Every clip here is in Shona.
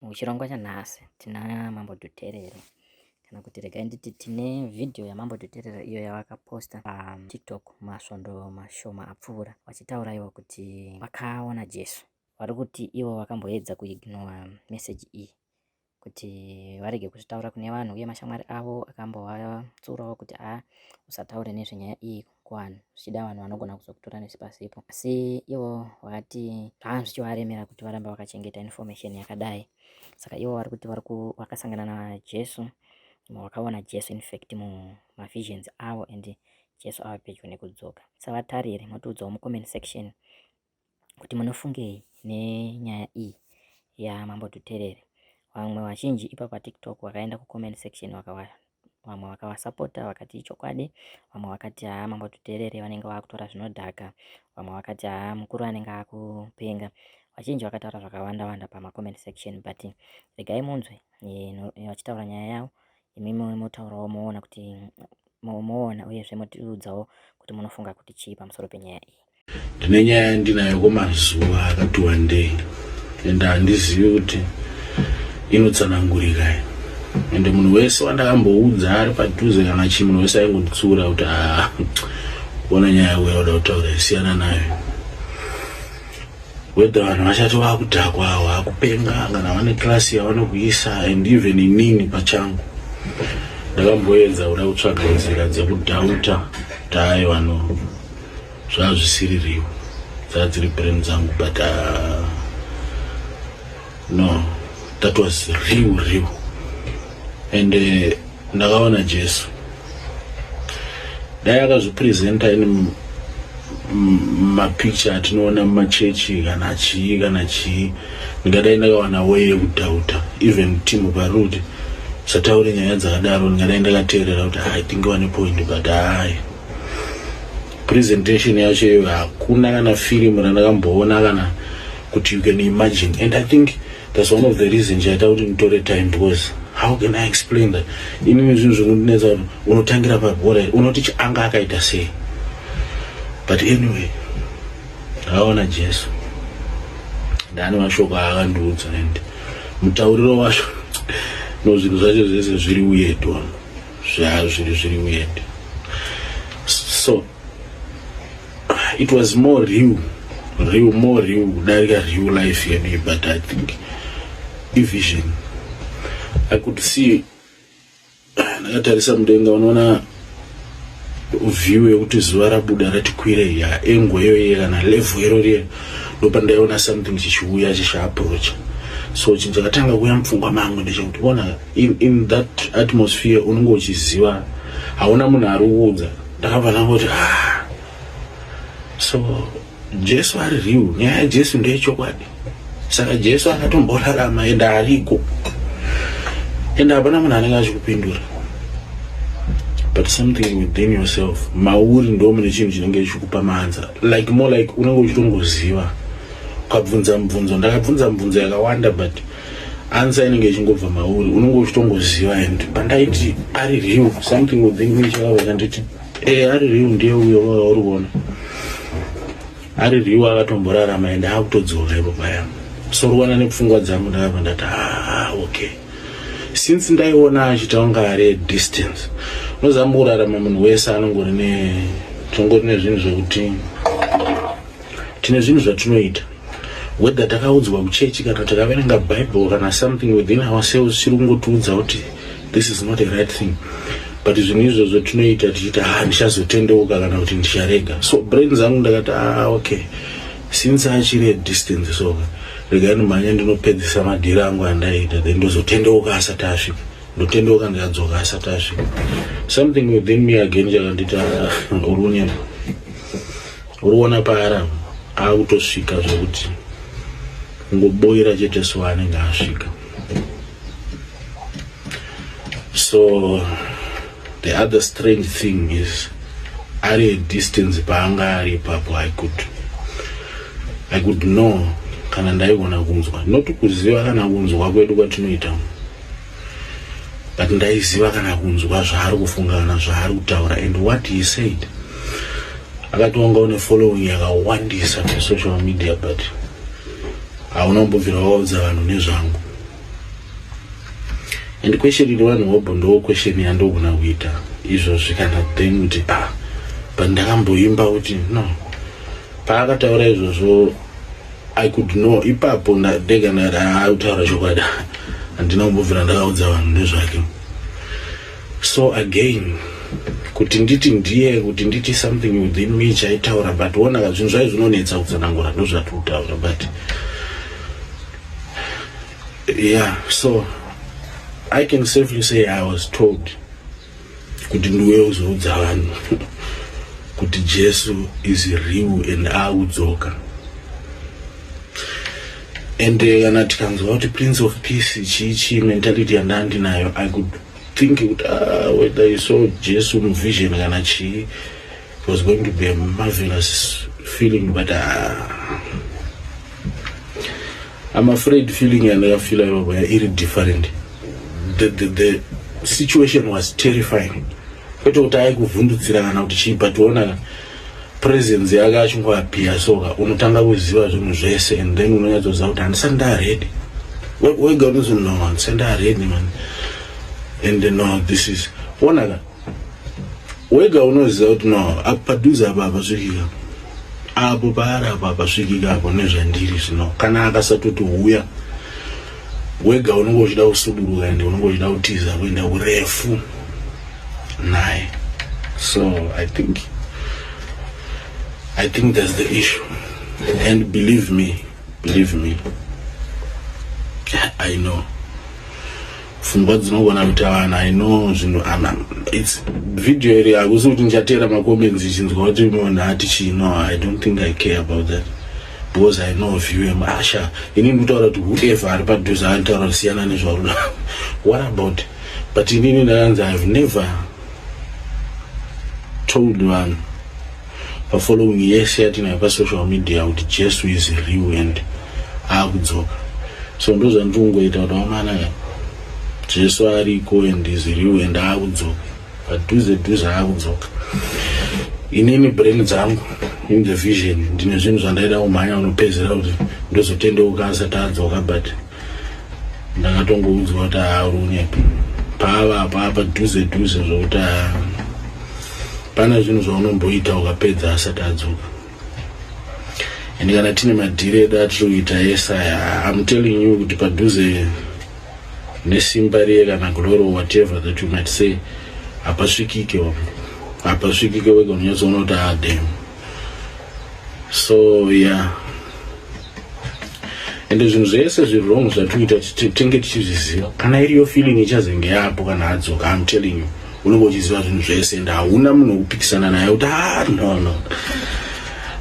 Muchirongwa chanhasi tina Mambo Dhuterere kana kuti regai nditi tine vhidhiyo yamambo tuterera iyo yavakaposta patiktok um, masvondo mashoma apfuura vachitaura ivo kuti vakaona jesu vari kuti ivo vakamboedza kuignora meseji iyi kuti varege kuzvitaura kune vanhu uye mashamwari avo akambovatsurawo kuti a usataure nezvenyaya iyi kuvanhu zvichida vanhu vanogona kuzokutora nesi pasipo asi ivo vakati zvanga zvichivaremera kuti varamba vakachengeta information yakadai saka ivo vari kuti vari vakasangana najesu vakaona jesu infact mumavisions avo and jesu ava pedyo nekudzoka savatariri motiudzawo mucomment section kuti munofungei nenyaya iyi yaMambo Dhuterere. Vamwe vazhinji ipa paTikTok vakaenda kucomment section vakawanda vamwe vakavasapota vakati ichokwadi vamwe vakati haa mambo tuterere vanenge vakutora zvinodhaka vamwe vakati haa mukuru anenge akupenga vazhinji vakataura zvakawanda wanda pamacomment section but regai munzwe vachitaura nyaya yavo imi motaurawo moona kuti moona uyezve motiudzawo kuti munofunga kuti chii pamusoro penyaya iyi ndine nyaya yandinayo kwemazuva akati wandei ende handizivi kuti inotsanangurika i ende munhu wese wandakamboudza ari padhuze kana chii munhu wese aingonditsiura kuti haa ona nyaya uya uda kutaura isiyana nayo whether vanhu vachati vakudhakwa vakupenga kana vane class yavanokuisa and even inini pachangu ndakamboedza kuda kutsvaga nzira dzekudhauta kuti ayi vanhu zvazvisiririwo dzadziri brain dzangu but uh, no that was real real and uh, ndakaona jesu dai akazvipresenta in mapicture atinoona mumachechi kana chii kana chii ndingadai ndakawana way yekudhauta even timu parudi sataure nyaya dzakadaro ndingadai ndakateerera kuti hai tinge wane point but hai presentation yacho iyoyo hakuna kana firimu randakamboona kana kuti you can imagine and i think that's one of the reason chaita kuti nditore time because how can i explain that inini zvinhu zvekundinetsa kuti unotangira pabhora here unoti chianga akaita sei but anyway ndakaona jesu ndani mashoko aakandiudza and mutauriro wacho no zvinhu zvacho zvese zviri uyedu ano zvazviri zviri weird so it was more real real more real kudarika real life yedu but i think ivision i could see ndakatarisa mudenga unoona view yekuti zuva rabuda rati kwire ya engo iyoye kana levhu iro riye ndopandaiona something chichiuya chichiaproacha so chinhu chakatanga kuuya mupfungwa mangu ndechekuti ona In, in that atmosphere unenge uchiziva hauna munhu ari kuudza ndakabva ndangoti ah. so jesu ari real nyaya yajesu ndeyechokwadi saka jesu akatomborarama ende ariko ende hapana munhu anenge achikupindura but something within yourself mauri ndo mune chinhu chinenge chikupa maanza like more like unenge uchitongoziva ukabvunza mubvunzo ndakabvunza mubvunzo yakawanda but answer inenge ichingobva mauri unenge uchitongoziva and pandaiti ari real something within me chakabva chanditi eh ari real ndiye uyo wauri kuona ari real akatomborarama and akutodzoka ipo paya sorwana nepfungwa dzangu ndakabva ndati ah okay since ndaiona achita kunga ari distance unozama kurarama munhu wese anongori ne tongori nezvinhu zvekuti tine zvinhu zvatinoita whether takaudzwa kuchechi kana takaverenga bible kana something within ourselves chiri kungotiudza kuti this is not a right thing but zvinhu izvozvo tinoita tichiita ha ah, ndichazotendeuka kana kuti ndicharega so brain zangu ndakati a ah, okay since achiri adistance so regai ndimhanya ndinopedzisa madhiri angu andaita then ndozotendeuka asati asvika ndotendeuka ndikadzoka asati asvika something within me again chakandita ah, urunyama Urikuona paara akutosvika zvekuti kungoboira chete so anenge asvika so the other strange thing is ari a distance paanga ari ipapo i could i could know kana ndaigona kunzwa not kuziva kana kunzwa kwedu kwatinoita but ndaiziva kana kunzwa zvaari kufunga kana zvaari kutaura and what he said akatonga une following yakawandisa pasocial media but hauna kumbobvira waudza vanhu nezvangu and question iri vanhu hobho ndo question yandogona kuita izvozvi kana then kuti ah but ndakamboimba kuti no Paakataura izvozvo I could know ipapo ndega ndati haa utaura chokwadi handina kumbobvira ndakaudza vanhu nezvake so again kuti nditi ndiye kuti nditi something within me chaitaura but wonaka zvinhu zvai zvinonetsa kutsanangura ndozvati kutaura but yeah so i can safely say i was told kuti ndiuye uzoudza vanhu kuti jesu is real and audzoka and eh, kana tikanzwa kuti prince of peace chii chii mentality yandaa ndinayo i could think kuti ah, whether you saw jesu muvision kana chii it was going to be a marvelous feeling but ah, I'm afraid feeling yandakafila ipapo ya iri different the, the, the situation was terrifying kwete kuti aikuvhundutsira kana kuti chii but ona presence yake achingoapia soka unotanga kuziva zvinhu zvese and then unonyatsoziva kuti handisati ndaredi wega unozonoo handisati ndaredi man and no this is onaka wega unoziva kuti no padhuze apa apasvikika apo paari apo apasvikika apo nezvandiri zvino kana akasatoti huya wega unenge uchida kusuduruka ende unenge uchida kutiza kuenda kurefu naye so i think i think thats the issue and believe me believe me i know pfungwa dzinogona kuita vanhu i know zvinhu ana its video iri hakusi kuti ndichateera macomments ichinzwa kuti munhu ati chii no i don't think i care about that because i know of you asha ini ndikutaura kuti whoever ari padhuze anotaura kuti siyana nezvauri what about but inini ndakanzi ihave never told vanhu Pa following yese yatinayo pa social media kuti Jesu is real and akudzoka. So ndozvandiri kungoita kuti wamanaka eh? Jesu ariko and is real and akudzoka. Padhuze dhuze akudzoka. Inini brain dzangu in the vision ndine zvinhu zvandaida kumhanya kunopedzera kuti ndozotendeuka asati adzoka but ndakatongounzwa kuti haarunyepi paava apapa dhuze dhuze zvokuti pana zvinhu zvaunomboita ukapedza asati adzoka and kana tine madhiri edu atiri kuita ese aya am telling you kuti padhuze nesimba riye kana glory whatever that you might say hapasvikike hapasvikike wega unonyatsoona kuti adem ah, so yeah ende zvinhu zvese zvirong zvatiita tinge tichizviziva kana iriyo feeling ichazenge yapo kana adzoka am telling you unenge uchiziva zvinhu zvese ende hauna munhu wekupikisana naye kuti ah, no no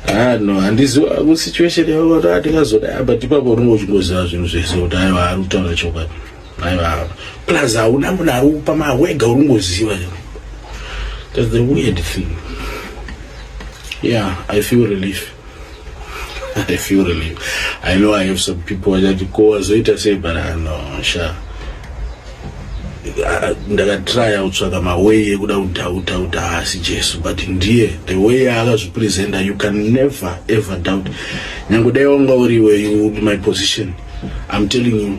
ah, no handiziva kusituation yavo kuti atingazoda ah, but ipapo unenge uchingoziva zvinhu zvese kuti aiwa ari kutaura chokwadi Aiwa. Plus hauna munhu ari kupa mari wega uri kungoziva. That's the weird thing. Yeah, I feel relief. I feel relief. I know I have some people that go as it say but I know sha. ndakatraya kutsvaka maway ekuda kudhauta kuti haasi jesu but ndiye the way yaakazvipresenta you can never ever doubt nyange dai wanga uriwe you my position i'm telling you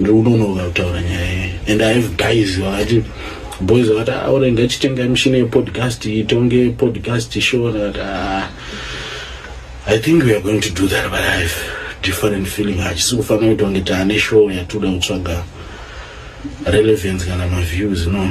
ndounonoka kutaura nyaya iyi and i have guys vakati boys vakati aure ah, ngachitenga mishina yepodcast itonge podcast show vakati ah, i think we are going to do that but i have different feeling hachisi kufanira kuti wange taane show yatoda kutsvaga relevance kana maviews no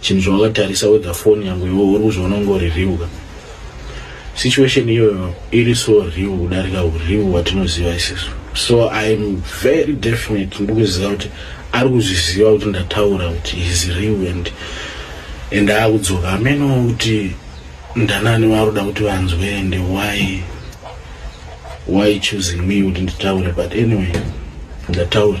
Chinhu chawakatarisa wega phone yangu iwe uri kuzviona kunge uri real ka. Situation iyoyo iri so real kudarika ureal hwatinoziva isisu. So I'm very definite ndiri kuziva kuti ari kuzviziva kuti ndataura kuti he's real and and akudzoka hamenowo kuti ndanani vaari kuda kuti vanzwe and why why choosing me kuti nditaure but anyway ndataura.